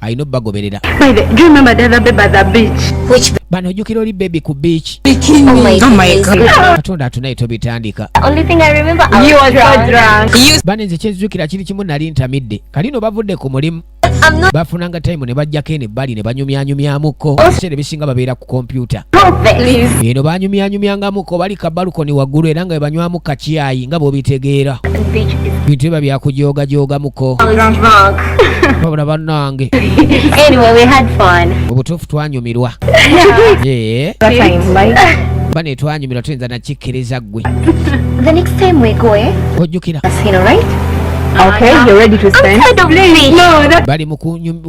alina obubagoberera bano ojjukira oli bebi ku beach katonda atunaye tobitandika bane nze kyezijukira kiri kimu nali ntamidde kalino bavudde ku mulimu bafunanga time ne bajjako eno ebbali ne banyumyanyumyamuko ebiseera ebisinga babeera kompyuta eno banyumyanyumyangamuko bali kabalukoni waggulu era nga bebanywamu kakyayi nga bwobitegeera bintu biba byakujoogajoogamuko babula bannange obutuufu twanyumirwa bane twanyumirwa tuyinza nakikkiriza ggwe ojjukira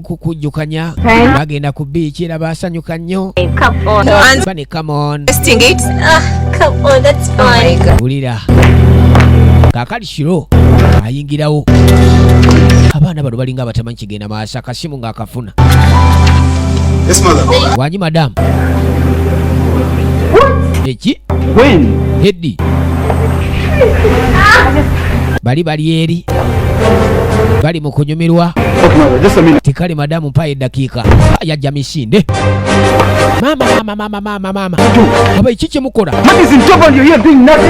kukujjukanya bagenda ku biiki era baasanyuka nnyo bane camon wulira kakali kiro ayingirawo abaana bano balinga abatamanyi kigenda maaso akasimu ng'akafuna wanyi madamu eki hedi bali bali eri bali okunyumirwa tikali madamu mpayo eddakiika yajja misinde mamamamamamamamama aba eki kyemukola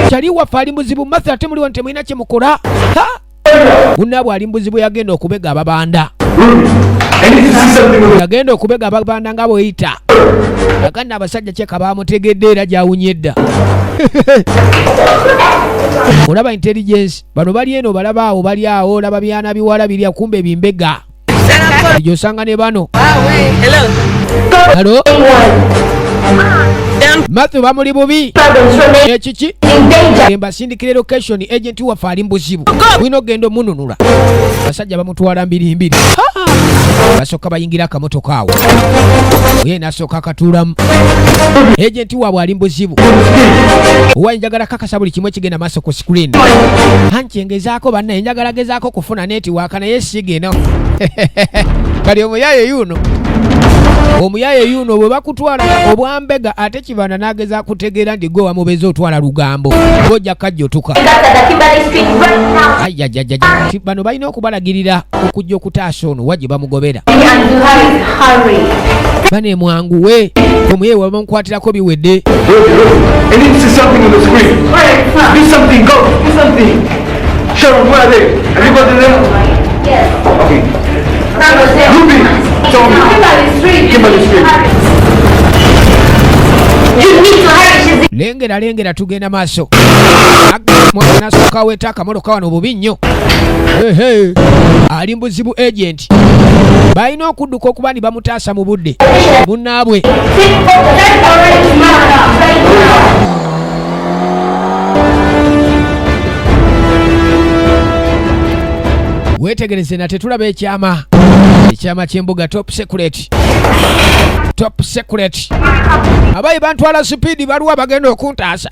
kyali waffe ali muzibu matha ate muliwo nti mulina kyemukola munaabwe ali mubuzibu yagenda okubega ababanda yagenda okubega ababanda nga bweyita agana abasajja kyeka bamutegedde era gyawunye edda olaba intelligence bano bali eno balaba awo bali awo laba byana biwala birya kumbe bimbega ejo osanga ne bano alo matthew bamuli bubi ekiki embasindikira location agenti waffe ali mubuzibu bulina okugenda omununula abasajja bamutwala mbirimbiri basooka bayingira akamotoka awo oye nasooka akatuulamu agenti waabwe ali mubuzibu owa njagala kakasa buli kimu ekigenda so ku screen hanki ngezaako bannaye njagala gezaako kufuna netiwaaka naye sigeno kali omuyaye yuno omuyaye yuno bwe bakutwala obwambega ate kibanda nageza kutegeera nti gwe wamubeza otwala lugambo gojja kajjotuka bano balina okubalagirira okujja okutaasa ono wa gye bamugobera bane mwanguwe omuyeyi wabamukwatira ako biwedde lengera lengera tugenda maaso mwana nasooka weta akamoloka wano bubi nnyo ali mbuzibu agent Kati balina okudduka okuba ni bamutaasa mu budde munnaabwe weetegereze na tetulaba ekyama ekyama ky'embuga top secret secret top secret abayi bantwala sipiidi baliwa bagenda okuntaasa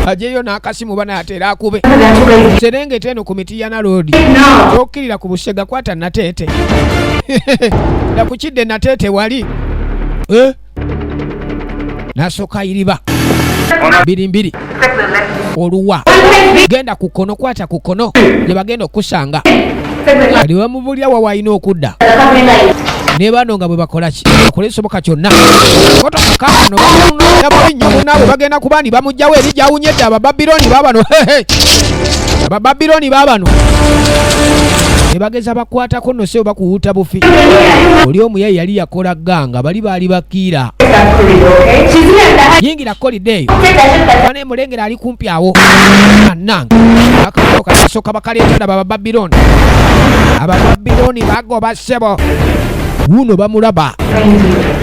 ajeyo n'akasimu bana atera akube serengeta eno ku miti ya naloodi okkirira ku busega kwata nateete nakukidde nateete wali eh? nasoka iriba mbiri mbiri oluwa genda ku kkono kwata ku kkono gye bagenda okukusanga kati bamubulira wa walina okudda ne bano nga bwe bakola ki bakola ekisoboka kyonna otoka bano bamunonya bubi nnyo munaabwe bagenda kuba ndi bamugjawo eri gyawunyedde abababiloni babano abababiloni babano ne bageza bakwatako nose oba kuwuuta bufi oli omuyayi yali yakola ganga bali baali bakiira yingira kolidde eyo bane mulengera ali kumpi awo anange akakolo kasooka bakaleetera baba babiloni aba babiloni bagoba ssebo wuno bamulaba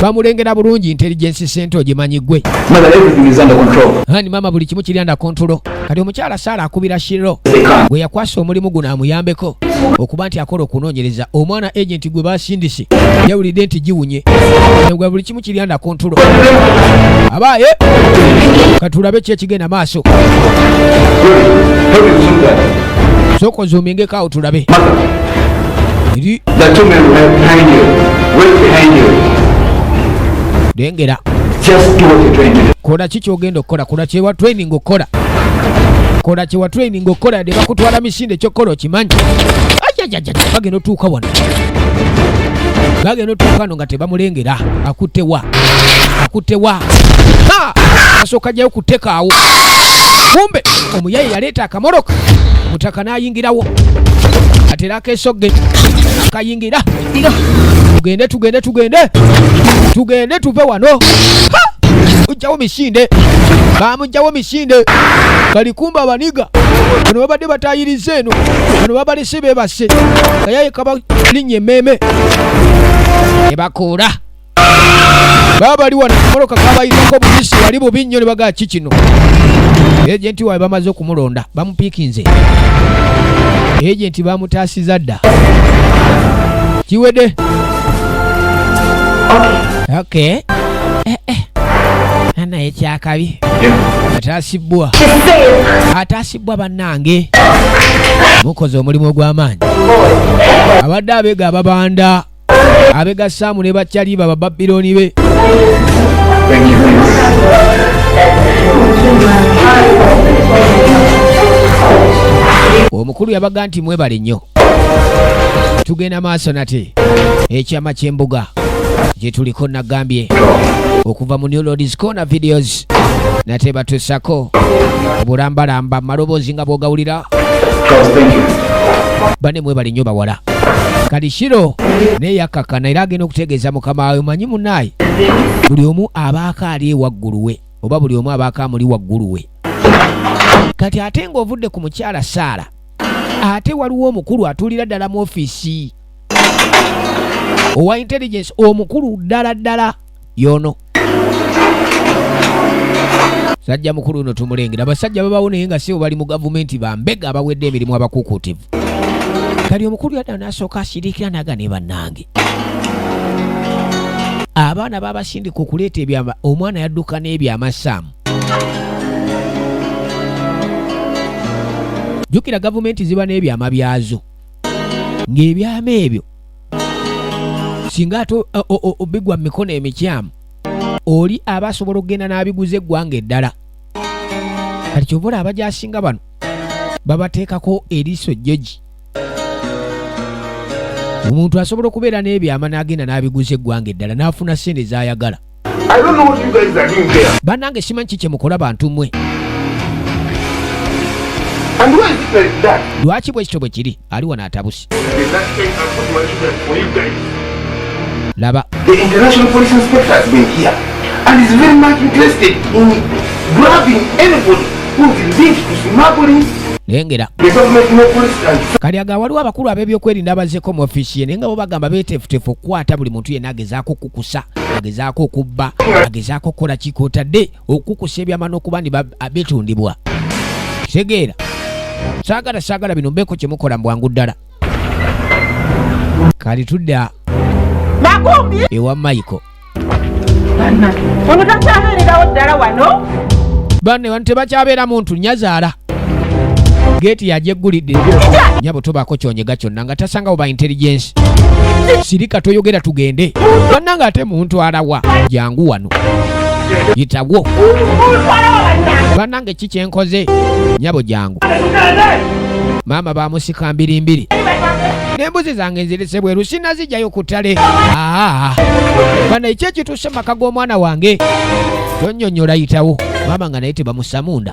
bamulengera bulungi intelligence center ogimanyi gwe ani mama buli kimu kiri anda kontulo kati omukyala saala akubira shiro gwe yakwasa omulimu guno amuyambeko okuba nti akola okunoonyereza omwana agenti gwe basindise yawulidde nti giwunye buli kimu kibyanda ku ntulo abaaye katulabe ki ekigenda maaso sooka ozuumingeko awo tulabe lengera kola ki kyogenda okukola kola kyewa training okukola kola kyewa training okukola yadde bakutwala misinde ekyokukola okimanyi bagenda otuuka wano bagenda otuuka no nga tebamulengera akutewa akutewa asooka jayo kutekaawo kumbe omuyaye yaleeta akamoroka mutaka n'ayingirawo atera akeesogge akayingira tugende tugende tugende tugende tuve wano ujjawo misinde bamujjawo misinde balikumba abaniga bano babadde batayiriza eno bano babali si bebase kayaye kabalinya emmeeme ne bakuula baba bali wano moloka kabayitako bubisi wali bubi nnyo ne bagaa ki kino ejenti waabwe bamaze okumulonda bamupiikinze ejenti bamutaasiza dda kiwedde okay. Eh, eh. anaye kyakabi ataasibbwa ataasi bwa bannange mukoze omulimu ogw'amaanyi abadde abega ababanda abega saamu ne bakyaliba bababirooni be omukulu yabaga nti mwebale nnyo tugenda maaso nate ekyama ky'embuga gye tuliko nagambye okuva mu new lords corner videos nate batusako obulambalamba maloboozi nga bwogawulira bane mwebali nnyo bawala kalishiro naye yakakana era agenda okutegeeza mukama wawe manyi munaye buli omu abaako ali ewaggulu we oba buli omu abaako amuli waggulu we kati ate ng'ovudde ku mukyala saala ate waliwo omukulu atulira ddala mu ofiisi owa intelligence omukulu ddala ddala yono sajja mukulu uno tumulengera abasajja babawo naye nga sibo bali mu gavumenti bambega abawedde emirimu abakukuutivu kali omukulu yadda nasooka asirikira naga ne bannange abaana babasindika okuleeta ebyama omwana yadduka n'ebyamasaamu jjukira gavumenti ziba n'ebyama byazo ng'ebyama ebyo singa ate bigwa mu mikono emikyamu oli aba asobola okugenda n'abiguza eggwanga eddala kati kyova olaba gyasinga bano babateekako eriiso jjoji omuntu asobola okubeera n'ebyama n'agenda n'abiguza eggwanga eddala n'afuna ssente z'ayagala banange simanyi ki kyemukola bantu mwe lwaki bwekityo bwe kiri ali wano atabusi laba and is very much interested in grabbing anybody who is linked to smuggling lengera kali aga waliwo abakulu ab'ebyokwerinda abazeeko mu ofiisi ye naye nga bo bagamba beeteefuteefu okukwata buli muntu yenna agezaako okukusa agezaako okubba agezaako okukola kikotadde okukusa ebyama n'okuba ni bitundibwa kitegeera saagala saagala bino mbeeko kye mukola mu bwangu ddala kali tudda ewa maiko banne bantu tebakyabeera muntu nyazaala geeti yajeggulidde nyabo tobaako kyonyega kyonna nga tasangawo ba intelligence sirika toyogera tugende banna nga ate muntu alawa jangu wano yitawo banange ki kyenkoze nyabo jangu maama bamusika mbirimbiri nembuzi zange nzirese bweru sinazijjayo ku ttale bana ekyo ekituuse mu maka g'omwana wange tonyonyola yitawo maama nga naye tebamusamunda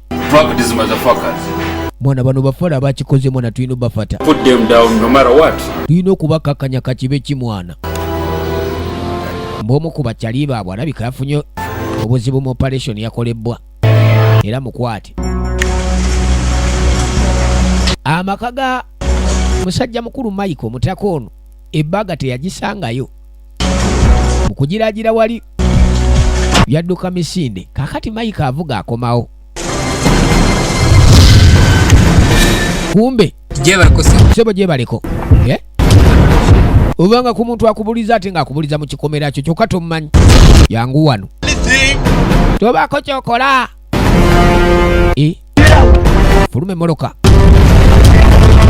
mwana bano bafala abakikoze mwana tulina obafata tulina okubakakanya kakibe ki mwana mbwomu ku bakyali baabwe alabika yafunye obuzibu mu operation yakolebbwa era mukwate amaka ga musajja mukulu maiko mutaka ono ebbaga teyagisangayo mu kugiraagira wali yadduka misinde kakati mayika avuga akomawo kumbe sebo gyebaleko eh? obanga ku muntu akubuliza ate ng'akubuliza mu kikomera kyo kyokka tomumanyi yangu wano tobaako kyokola eh? fulume moloka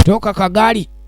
toka kagaali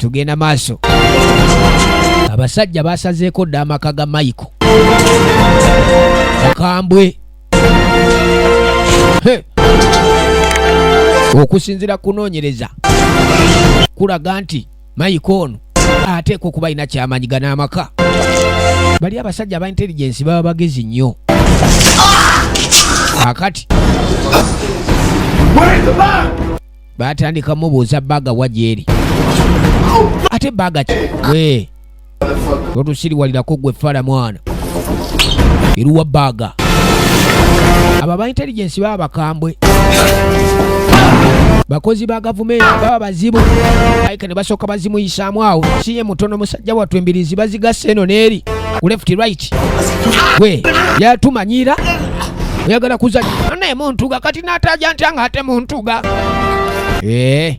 tugenda maaso abasajja basazeeko dda amaka ga maiko mukambwe okusinzira kunoonyereza kulaga nti mayika ono ateekwa okuba alina kyamanyi gana amaka bali abasajja aba intelligence baba bagezi nnyo akati batandika mubuuza baga wajeeri ate baga ki totusiriwalirako gwe fala mwana iruwa baga abo aba intelligence baba bakambwe bakozi ba gavumenti baba bazibu aika ne basooka bazimuyisaamu awo siye mutono musajja wattu embirizi bazigasa eno neeri ku left right gwe yatumanyira oyagala kuzanya naye muntuga kati nataja ntya nga ate muntuga ee eh.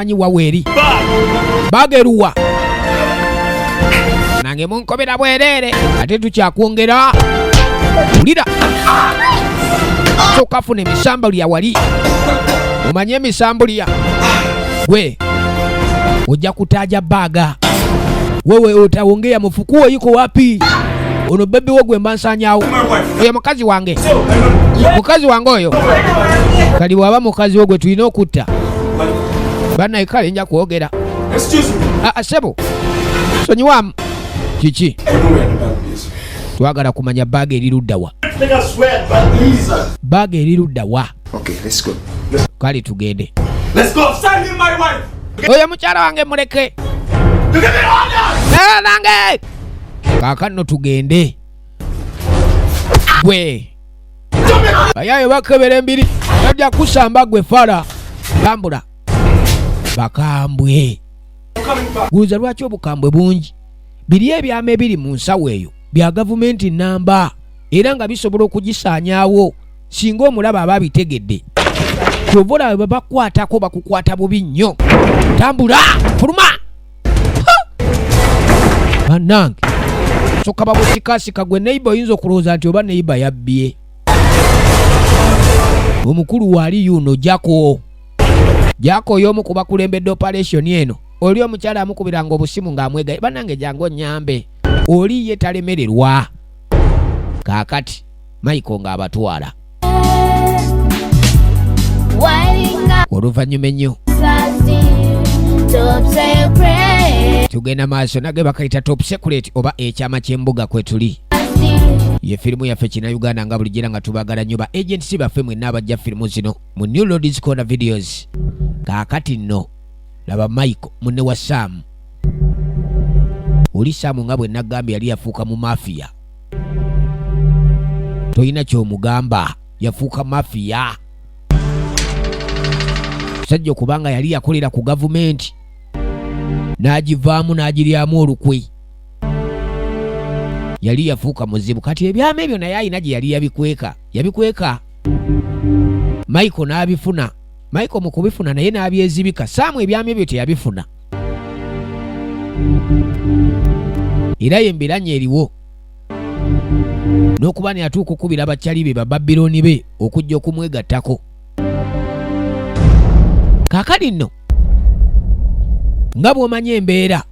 anyi waweri bageruwa nange munkobera bwerere ate tukyakwongera ulira sokafuna emisambo lya wali omanye emisambo lya gwe ojja kutaja baga wewe utaongea mufukuo yuko wapi ono bebi wo gwemba nsanyawo oyo mukazi wange mukazi wange oyo kali bwaba mukazi wo gwe tulina okutta banaye kale nja kwogera ah, ah, sebo sonyiwamu kiki twagala kumanya baaga eri luddawa baaga eri luddawa kale tugende oyo mukyala wange muleke nange kakanno tugende gwe bayayo bakebera embiri bajja kusamba gwe fala tambula bakambwe guuza lwaki obukambwe bungi biri ebyama ebiri mu nsawo eyo bya gavumenti namba era nga bisobola okugisaanyaawo singa omulaba aba abitegedde kyova olaba babakwatako bakukwata bubi nnyo tambula fuluma banange soka bamusikasika gwe neiba oyinza okulowooza nti oba neiba yabbye omukulu waali yuno jako jako oyoomu ku bakulembedde operation eno oli omukyala amukubiranga obusimu ng'amwegaye banange jangu onyambe oli ye talemererwa kaakati mayiko ng'abatwala oluvannyuma ennyo tugenda maaso nage bakayita top secret oba ekyama ky'embuga kwe tuli ye firimu yaffe kina uganda nga bulijjo era nga tubagala nnyo ba agents baffe mwenna abajja firimu zino mu new lords corner videos kaakati nno laba michael munne wa saamu oli saamu nga bwe nagambye yali yafuuka mu mafiya tolina kyomugamba yafuuka mafiya sajja okubanga yali yakolera ku gavumenti n'agivaamu n'agiryamu olukwe yali yafuuka muzibu kati ebyama ebyo naye alina gye yali yabikweka yabikweka michael n'abifuna michael mu kubifuna naye n'abyezibika saamu ebyama ebyo teyabifuna era ye mbiranye eriwo n'okuba ne atuuka okukubira abakyali be bababilooni be okujja okumwegattako kakali nno nga bw'omanyi embeera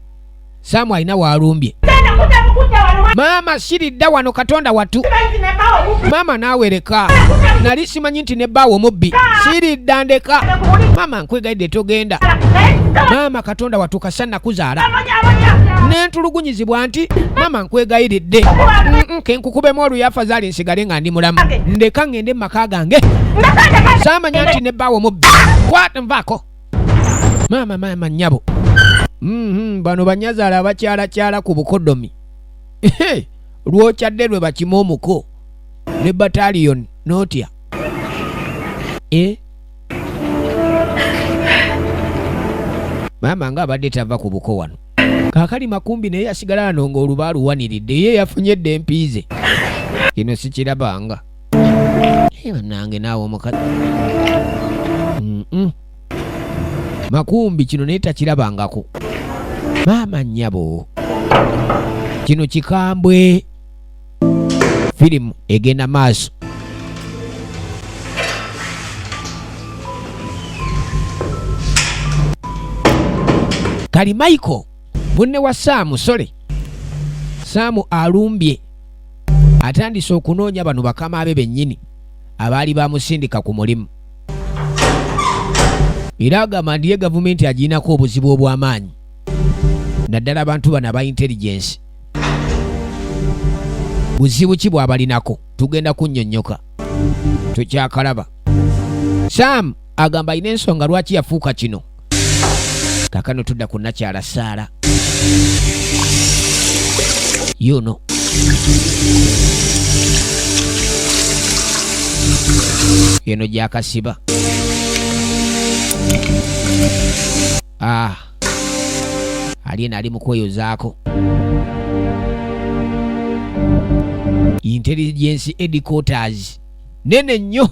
saamu alina waalumbye maama siridda wano katonda watu maama naawereka nali simanyi nti ne bbaawo mubbi siridda ndeka maama nkwegayidde togenda maama katonda watuuka sannakuzaala nentulugunyizibwa nti maama nkwegayiridde kenkukubemu oluyafa zaali nsigale nga ndi mulamu ndeka ngende mu maka gange saamanya nti ne bbaawo mubbi kwat nvaako maama maama nnyabo mm-hmm, bano banyazaala abakyalakyala ku bukodomi lwokyadde lwe bakima omuko ne bataliyoni notya eh? maama nga abadde tava ku buko wano kakali makumbi naye yasigala ano nga oluba aluwaniridde ye yafunye dde empiize kino sikirabanga banange naawe omukazi makumbi kino naye takirabangako maama nnyabo kino kikambwe firimu egenda maaso kali michael munne wa saamu sole saamu alumbye atandise okunoonya bano bakama be bennyini abaali bamusindika ku mulimu era agamba ndiye gavumenti agiinako obuzibu obw'amaanyi naddala abantu bano aba intelligensi buzibu ki bwabalinako tugenda kunyonyoka tukyakalaba sam agamba alina ensonga lwaki yafuuka kino kakano tudda ku nakyala saala yuno eno gyakasiba ah. alyena ali mukweyozaako intelligence edicoters nene nnyo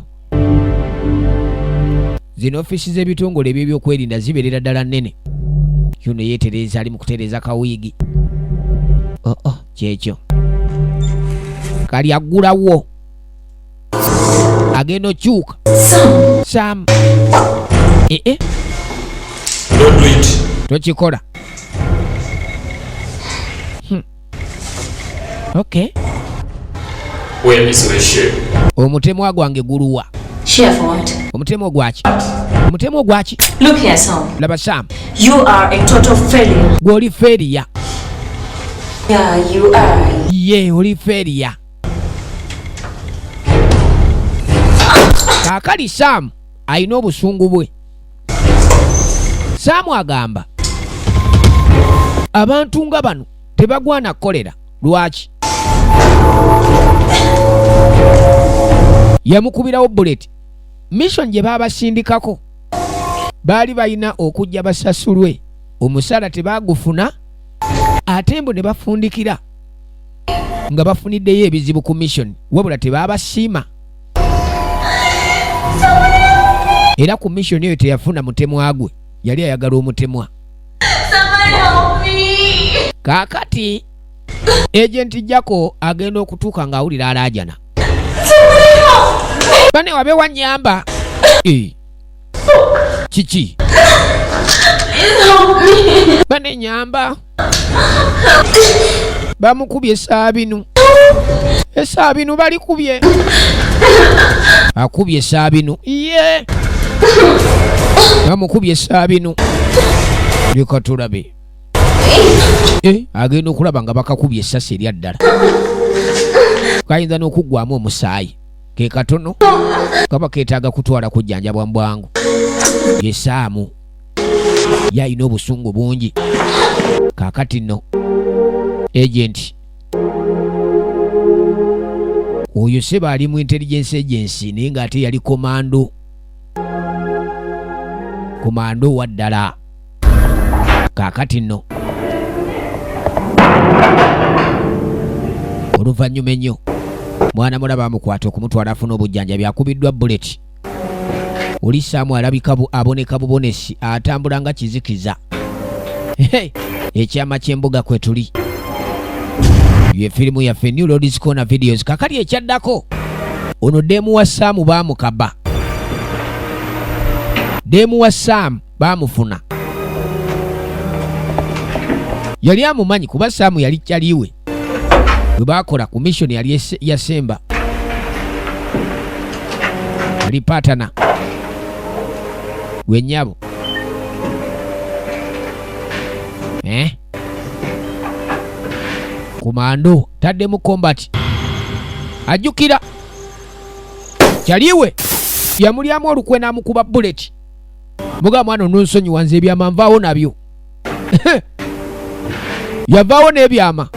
zino ofiisi z'ebitongole ebyebyokwerinda zibeerera ddala nnene yuno yeetereeza ali mu kutereeza kawiigi oo oh, oh, kyekyo kali aggulawo agenda okyuka sam ee eh, eh. tokikola hmm. okay omutemwa gwange guluwa omutemwa ogwaki omutemwa ogwaki laba sam gwoli feriya ye oli feriya kaakali saamu alina obusungu bwe saamu agamba abantu nga bano tebagwana kukolera lwaki yamukubirawo buleti mission gye baabasindikako baali balina okujja basasulwe omusaala tebaagufuna ate mbu ne bafundikira nga bafuniddeyo ebizibu ku mission wabula tebaabasiima era ku mission eyo teyafuna mutemwa gwe yali ayagala omutemwa kaakati ejenti jako agenda okutuuka ng'awulira alaajana bane wabe wanyamba eh. kiki bane nyamba bamukubye esaabinu esaabinu balikubye akubye esaabinu ye bamukubye esaabinu leka tulabe eh, agenda okulaba nga bakakubye esasi erya ddala kayinza n'okuggwamu omusaayi ke katono kaba keetaaga kutwala kujjanjabwa mu bwangu yesaamu ye alina obusungu bungi kaakati nno agenti oyo seba ali mu intelligence agency naye ng'ate yali komando komando wa ddala kaakati nno oluvannyuma ennyo mwana mulaba amukwata okumutwala afuna obujjanjabi akubiddwa buleti olisaamu alabika aboneka bubonesi atambula nga kizikiza ekyama ky'embuga kwe tuli ye firimu yaffe new lords corner videos kakali ekyaddako ono deemu wa saamu baamukaba deemu wa saamu baamufuna yali amumanyi kuba saamu yali kyaliwe bwe baakola ku missoni yali yasemba yali patana wenyabo eh? kumando tadde mu kombati ajjukira kyaliwe yamulyamu olukwe n'amukuba buleti muga mwana ononsonyiwa nze ebyama nvaawo nabyo yavaawo n'ebyama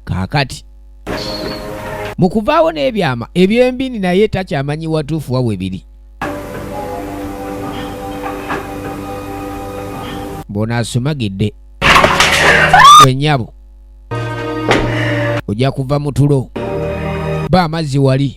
kakati mu kuvaawo n'ebyama ebyembini naye takyamanyi watuufu wa we biri bona asumagidde wenyabo ojja kuva mu tulo ba amazzi wali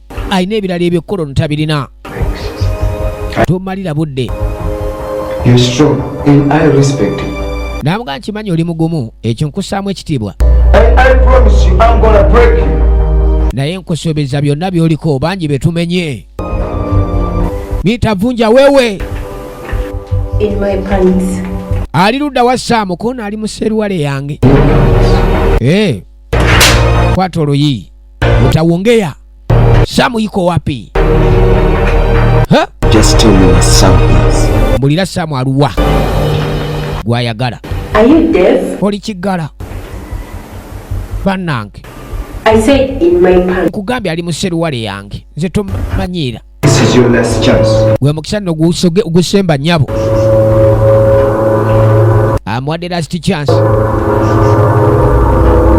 alina ebirala ebyekkola ono tabirina tomalira budde namuga nkimanyi oli mugumu ekyo nkussaamu ekitiibwa naye nkusuubiza byonna byoliko bangi betumenye miita vunja wewe ali ludda wa saamu koona ali mu seruwale yange eh, kwata oluyi Utaongea. Samu iko wapi? Ha? Just tell me where Sam is. Mbulira Samu aluwa. Gwayagala. Are you deaf? Oli kigala. Banange. I said in my pants. Nkugambye ali mu seruwale yange. Nze tomanyiira. gwe mukisa nno gusemba nyabo amuwadde last chance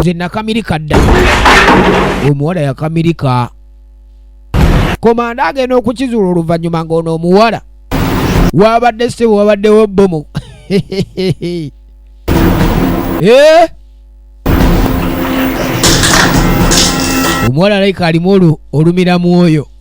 nze nakamirika dda omuwala yakamirika komanda agenda okukizuula oluvannyuma ng'ono omuwala wabadde sebo wabaddewo bbomu eh? omuwala laika alimu olumira mwoyo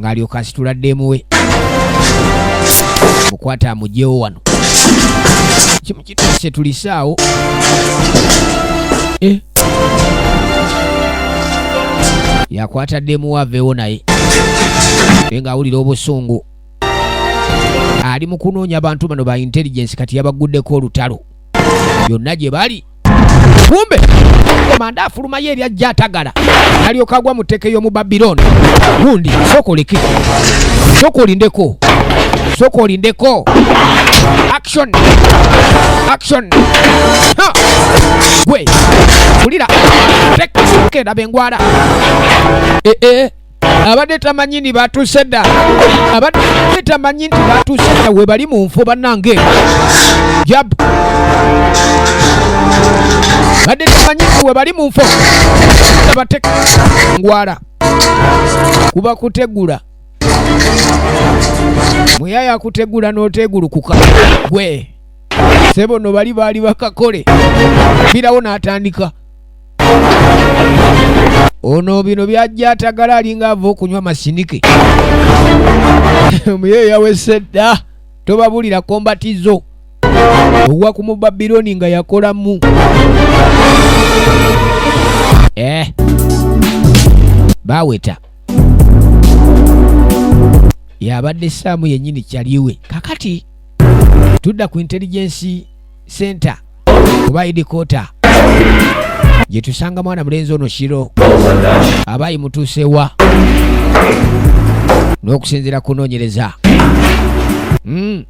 ng'alyoka asitula ddeemu we mukwata amugyewo wano kimu kituse tulisaawo eh. yakwata ddeemu we aveewo naye naye ng'awulira obusungu ali mu kunoonya abantu bano ba intelligence kati yabagguddeko olutalo yonna gye bali kumbe komanda afulumayo ebyajja atagala nalyoka agwa mu tteke y'omu babiloni gundi soka oleke soka olindeko soka olindeko action action gwe kulira tekenda bengwala ee eh, eh. abadde tamanyi ni batuuse dda abadde tamanyi nti batuuse dda we bali mu nfu bannange jab badde tamanyi nti we bali mu nfu abateka ngwala kuba kutegula muyaya kutegula n'otegulukuka gwe sebo no bali baali bakakole birawo n'atandika ono bino byajja atagala alinga ava okunywa amasinike muye yawese dda tobabulira kombatizo owa ku mubabiloni nga yakolamu eh. baweta yabadde saamu yennyini kyaliwe kakati tudda ku intelligensi center oba idikota gyetusanga mwana mulenzi ono kiro abaayi mutuusewa n'okusinziira kunoonyereza hmm.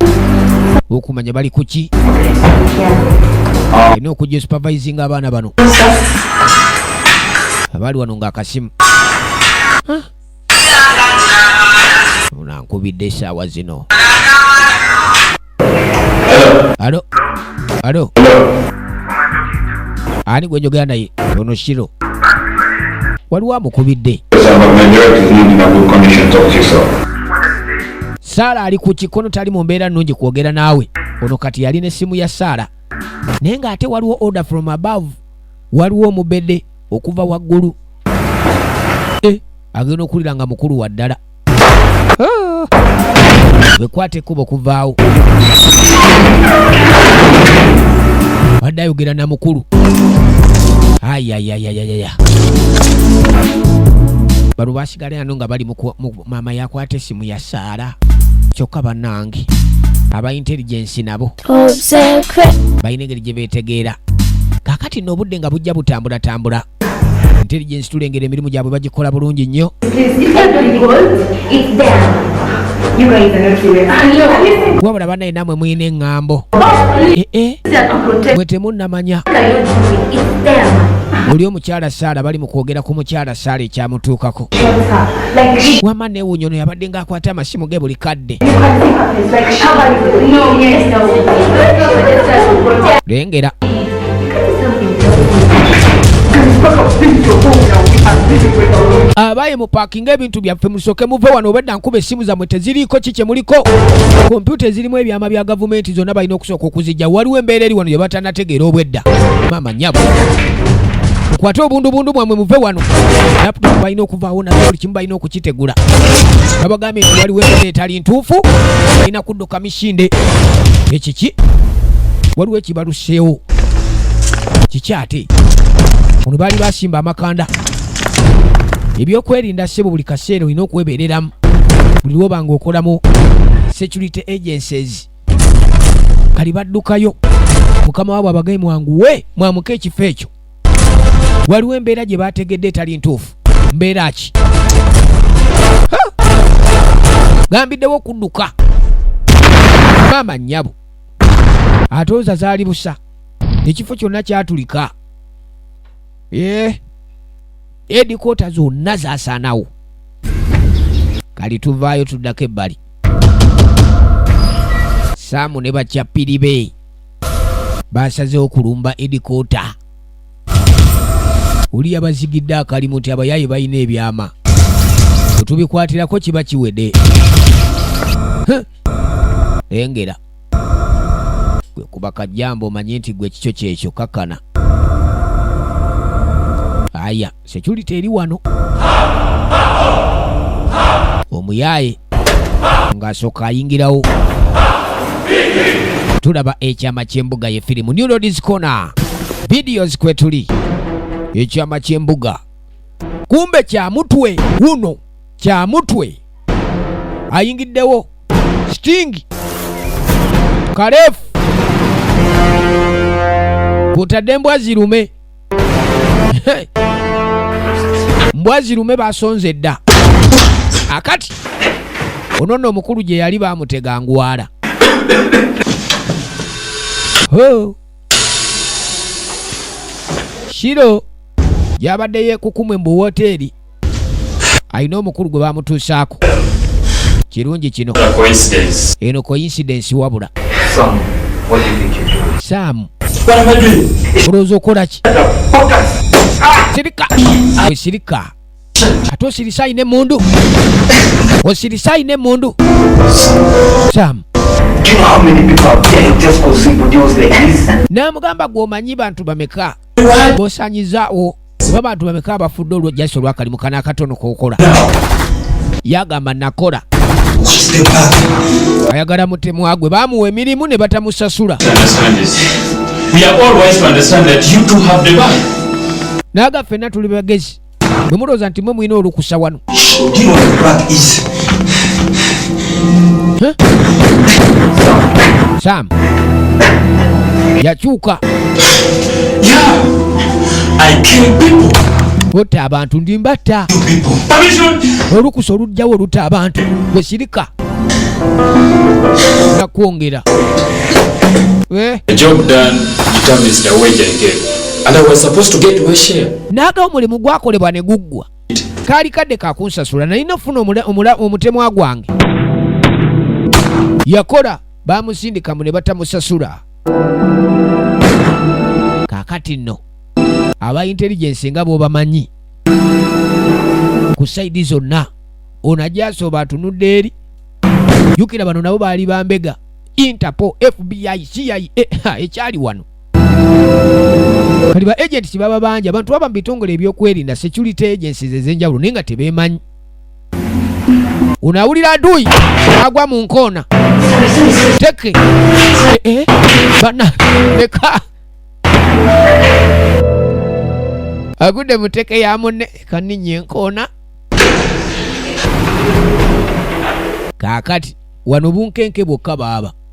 okumanya bali kuki olina okujja supervisinga abaana bano abali wano ngaakasimu unankubidde esaawa zino alo alo ani gwe njogera naye ono shiro waliwo amukubidde saala ali ku kikono tali mu mbeera nnungi kwogera naawe ono kati yali n'essimu ya saala naye ng'ate waliwo order from above waliwo omubedde okuva waggulu eh, agenda okuwulira nga mukulu wa ddala wekwata ekkubo kuvaawo wadde ayogera na mukulu ayayayayaya bano basigala ano nga bali maama yakwata essimu ya saara kyokka banange aba intelligence nabo balina engeri gye beetegeera kakati no obudde nga bujja butambulatambula intelligence tulengera emirimu gyabwe bagikola bulungi nnyo wabula banaye namwe mulina eŋŋambo eh, eh. mwe temunnamanya oli omukyala saala bali mu kwogera ku mukyala saala ekyamutuukako wama newunyono yabadde nga akwate amasimu ge buli kadde lengera abaye mupakinga ebintu byaffe musoke muve wano obedda nkuba essimu zammwe teziriiko ki kye muliko kompyuta ezirimu ebyama bya gavumenti zonna balina okusooka okuzijja waliwo embeera eri wano gye batanategeera obwedda maama nyabo mukwate obundubundu bwammwe muve wano laptop balina okuvaawo nabuli kimu balina okukitegula babagambye nti waliwo embeera etali ntuufu alina kudduka misinde ekiki waliwo ekibaluseewo kiki ate ono baali basimba amakanda ebyokwerinda sebo buli kaseera olina okwebereramu buli lwoba nga okolamu security agencies kali baddukayo mukama waabwe abagaye mwanguwe mwamuka ekifo ekyo waliwo embeera gye baategedde etali ntuufu mbeera ki gambiddewo okudduka maama nnyabo ate oza zaali busa ekifo kyonna kyatulika ee edikoota zonna zasaanawo kali tuvaayo tuddako ebbali saamu ne bakyapiri be basazewo kulumba edikoota oli yabazigidde akalimu ti abayaaye balina ebyama wetubikwatirako kiba kiwede engera gwe kuba kajjambo omanye nti gwe kikyo kyekyo kakana aya security eri wano omuyaaye ng'asooka ayingirawo tulaba ekyama ky'embuga ye firimu new roads corner videos kwe tuli ekyama ky'embuga kumbe kya mutwe wuno kya mutwe ayingiddewo sting kalefu kutadde embwa zirume mbwa zirume basonze dda akati ono nno omukulu gye yali bamutega ngwala kiro yabadde yekukumwe mu woteeri alina omukulu gwe bamutuusaako kirungi kino eno coincidence wabula saamu olowooza okola ki sirika osirika ate osirisa ayina emundu osirisa ayina emundu saamu namugamba gwomanyi bantu bameka bosanyizaawo oba bantu bameka abafudde olwo jasi olwakalimu kana akatono kokola yagamba nakola ayagala mutemwagwe bamuwa emirimu ne batamusasula naga fenna tuli bagezi bwe mulowooza nti mwe mulina olukusa wano sam yakyuka otta abantu ndi mbatta olukusa olujjawo olutta abantu wesirika nakwongera eh? n'aga omulimu gwakolebwa ne guggwa kaali kadde kakunsasula nalina okufuna omutemwa gwange yakola bamusindikamu ne batamusasula kakati nno aba intelligence nga bwobamanyi ku saidi zonna ono ajasooba atunudde eri jukira bano nabo baali bambega interpol fbi cia ekyali wano kati ba agenti kibaba bangi abantu baba mu bitongole ebyokwerinda security agencies ezenjawulo naye nga tebemanyi unawulira adui agwa mu nkoona teke eh, eh, bana leka agudde mu teke ya munne kaninnya enkoona kaakati wano bunkenke bwokka baaba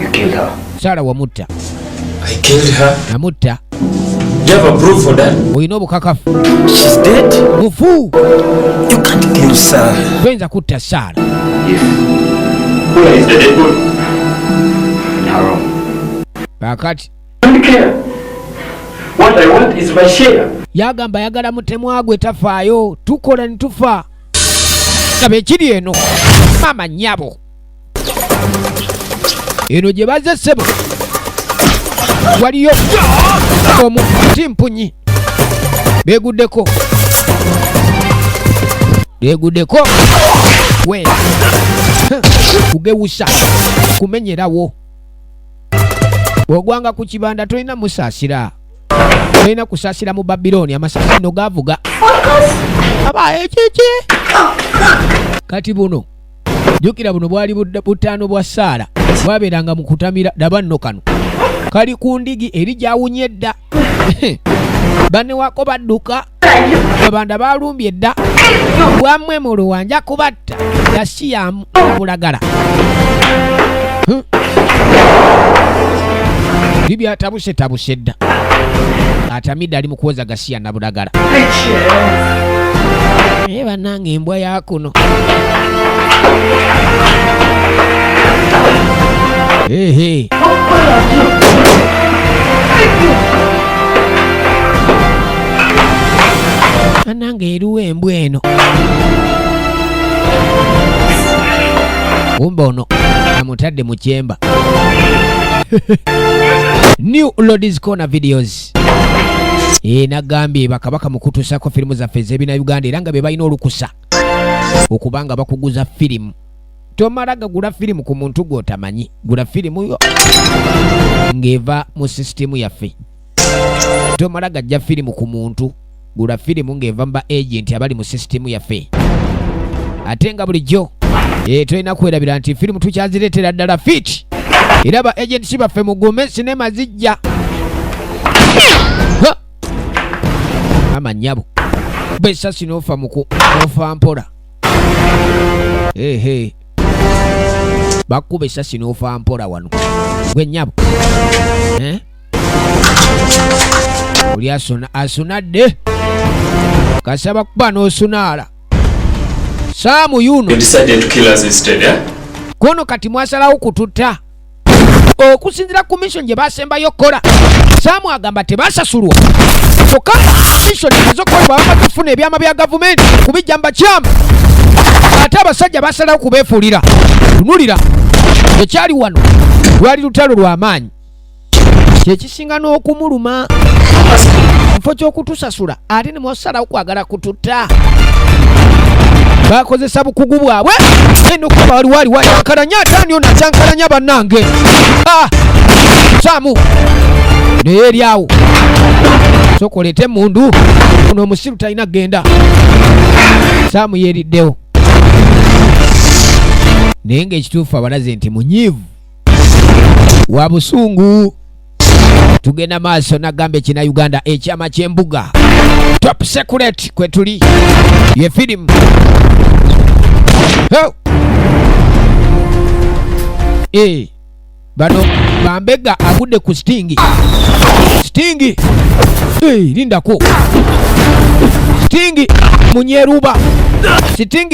You killed her. Sara wamutta. I killed her. Namutta. Do you have a proof for that? Olina obukakafu. She's dead. Mufu. You can't kill Sara. Toyinza kutta Sara. Yes. Who is the dead body? In her room. Kakati. I don't care. What I want is my share. Yagamba yagala mutemwa gwe tafaayo tukola ne tufa. Kaba ekiri eno. Mama nyabo. eno gye bazze ssebo waliyo omu kimpunyi beguddeko beguddeko we kugewusa kumenyerawo ogwanga ku kibanda tolina musaasira tolina kusaasira mu babilooni amasasi no gavuga aba ekiki kati buno jukira buno bwali butaano bwa saala bwabeeranga mu kutamira daba nno kano kali ku ndigi eri gyawunye dda banewako badduka abanda balumbye dda bwamwe mu luwanja kubatta yasiyamu bulagala bibyatabuse tabuse dda atamidde ali mu kuwoza gasiya na budagala naye banange embwa yakuno hey, hey. anange eriwo embwa eno kumbe ono amutadde mu kyemba new lodis corner videos Christ eh, nagambye bakabaka mukutusako firimu zaffe ezebina Uganda era nga be balina olukusa okuba nga bakuguza firimu tomala gagula firimu ku muntu gwotamanyi gula firimu yo ng'eva mu sisitimu yaffe tomala gajja firimu ku muntu gula firimu ng'eva mu ba agenti abali mu sisitimu yaffe ate nga bulijjo eh, tulina kwerabira nti firimu tukyazireetera ddala fiti era ba agenti baffe mugume sinema zijja mama nyabo besasi nofa muku nofa mpola ehe bakuba esasi nofa mpola wano gwe nyabo eh? oli asuna asunadde kasaba kuba n'osunaala saamu yuno kono kati mwasalawo kututta okusinzira ku mission gye basembayo okukola saamu agamba tebasasulwa kyokka mission ezokolebwa bamaze okufuna ebyama bya gavumenti kubijja mubakyamu ate abasajja basalawo kubeefuulira tunulira ekyali wano lwali lutalo lw'amaanyi kyekisinga n'okumuluma mufo ky'okutusasula ate ne mwasalawo kwagala kututa bakozesa bukugu bwabwe eno kuba waliwo aliwo acankalanya ate ani ono acankalanya bannange ah! samu naye eri awo sokolete emundu ono omusiru talina kugenda samu yeriddewo naye ngaekituufu abalaze nti munyiivu wa busungu tugenda maaso nagamba ekina uganda ekyama kyembuga top secret kwetuli ye filimu oh! hey. Eh, bano bambega agudde ku stingi stingi hey, eh, lindako stingi munyeruba stingi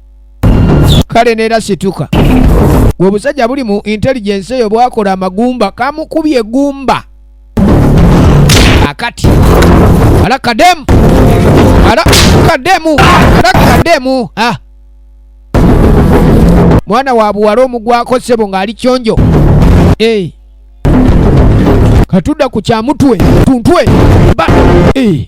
kale neera situka obusajja buli mu intelligence eyo bwakola amagumba kamukubye egumba akati ala kademu ala kademu ala kademu ah. mwana wa buwala omugwako sebo ng'ali kyonjo hey. Eh. katudda ku kyamutwe tuntwe ba hey. Eh.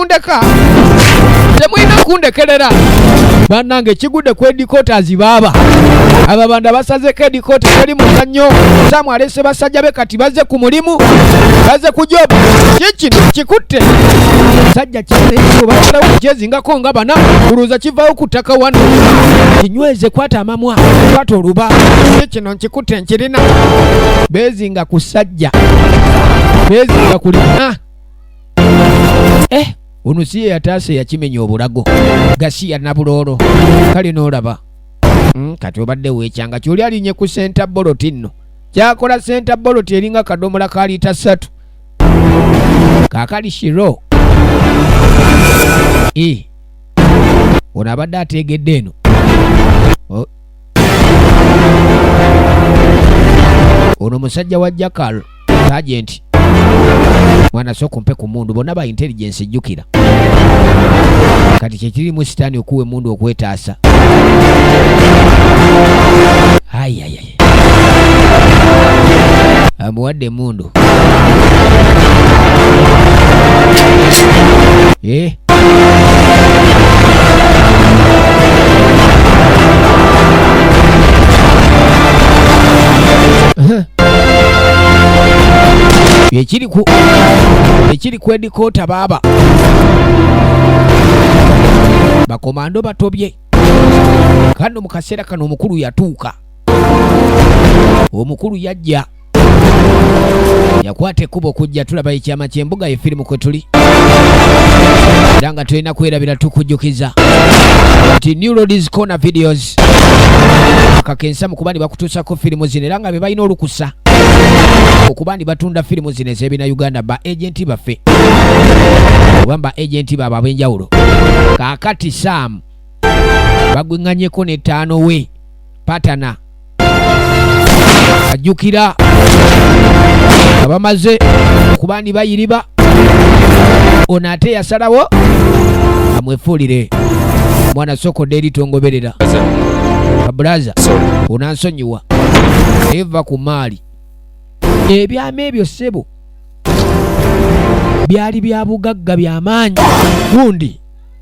mundeka temulina kundekerera banange kigudde ku edikotazi baaba ababanda basazeko edikota teri muzannyo samu alese basajja be kati baze ku mulimu baze ku jobu kikino kikutte sajja kibaalawo kyezingako nga bana kuluza kivawo ku ttaka wano kinyweze kwata amamwa kwata oluba kikino nkikutte nkirina bezinga ku sajja bezinga kulina eh, ono si ye yataasa eyakimenya obulago gasiya nabuloolo kale n'olaba hmm, kati obadde weekyanga kyoli alinye ku senta boloti nno kyakola senta boloti eringa kadomola ka liita ssatu kakali shiro e ono abadde ateegedde eno oh. ono musajja wa jakal Sergeant mwana sooka ompe ku mundu bonna ba intelligence jjukira kati kyekirimu sitaani okuwa emundu okwetaasa ayayaya amuwadde emundu eh? Ehe. ekiri ku ekiri ku edikoota baaba bakomando batobye kano mu kaseera kano omukulu yatuuka omukulu yajja yakwata ekkubo kujja tulaba ekyama ky'embuga ye firimu kwe tuli era nga tulina kwerabira tukujjukiza nti new roads corner videos akakensa mu kuba ne bakutuusako firimu zino era nga be balina olukusa okuba ndi batunda firimu zino ez'ebina uganda ba agenti baffe oba ba agenti baabo ab'enjawulo kaakati saamu bagwenganyeko ne taano we patana ajjukira abamaze okuba ndi bayiriba ono ate yasalawo amwefuulire mwana sokodde eri tongoberera abulaza onansonyiwa eva ku maali ebyama ebyo ssebo byali bya bugagga byamaanyi gundi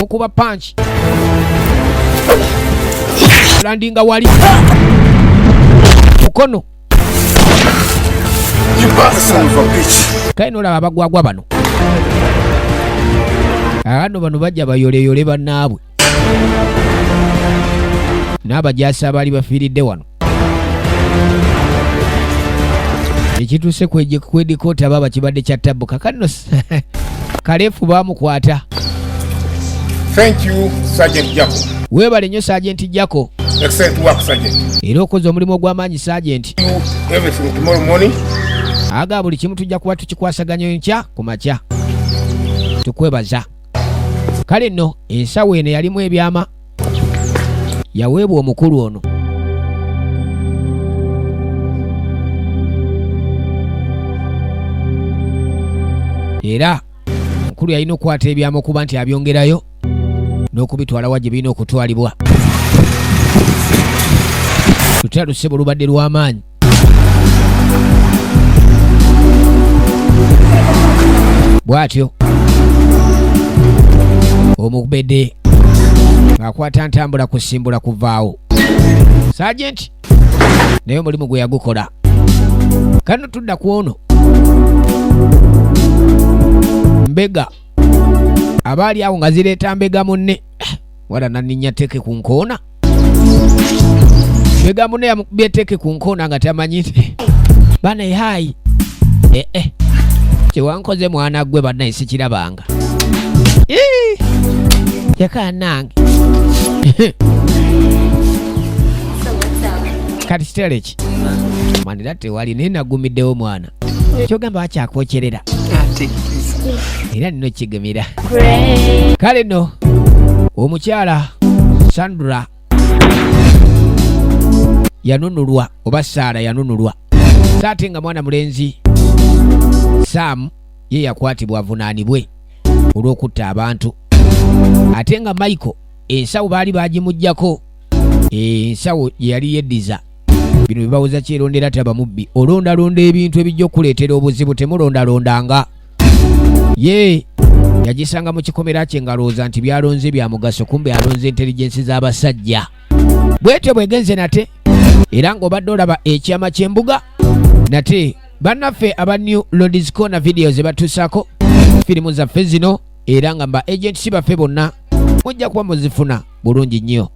mukuba panki landinga wali mukono kale nolaba abagwagwa bano ano bano bajja bayoleyole banaabwe n'abajaasi abaali bafiiridde wano ekituuse kwedikooti aba bakibadde kya tabbu kakanno kaleefu baamukwata weebale nnyo sajenti jako era okoze omulimu ogw'amaanyi sajenti aga buli kimu tujja kuba tukikwasaganyo nkya ku makya tukwebaza kale nno ensawo eno yalimu ebyama yaweebwa omukulu ono era omukulu yalina okukwata ebyama okuba nti abyongerayo n'okubitwalawa gye birina okutwalibwa lutera lusebo lubadde lw'amaanyi bwatyo omubede akwata ntambula kusimbula kuvaawo sajenti naye omulimu gwe yagukola kano tudda ku ono mbega abaali awo nga zireeta mbega munne wala naninya teke ku nkoona ebigambo naye amukubye teke ku nkoona nga tamanyi nti bana ehayi ee eh, eh. kyewankoze mwana gwe banaye sikirabanga yakanange kati kitale ki manira tewali naye nagumiddewo mwana kyogamba wakyakwokyerera era nino kigemera kale no omukyala sandra yanunulwa oba saara yanunulwa saate nga mwana mulenzi saamu ye yakwatibwa avunaanibwe olw'okutta abantu ate nga michael ensawo baali bagimugjako ensawo yeyali yeddiza bino bibawoza kyerondera taba mubbi olondalonda ebintu ebijja okuleetera obuzibu temulondalondanga ye yagisanga mu kikomera kye ngalowooza nti byalonze bya mugaso kumbe alonze intelligensi z'abasajja bwetyo bwegenze nate era ng'obadde olaba ekyama ky'embuga nate bannaffe aba new lodis corner video ze batuusaako firimu zaffe zino era nga mba agentsi baffe bonna mujja kuba muzifuna bulungi nnyo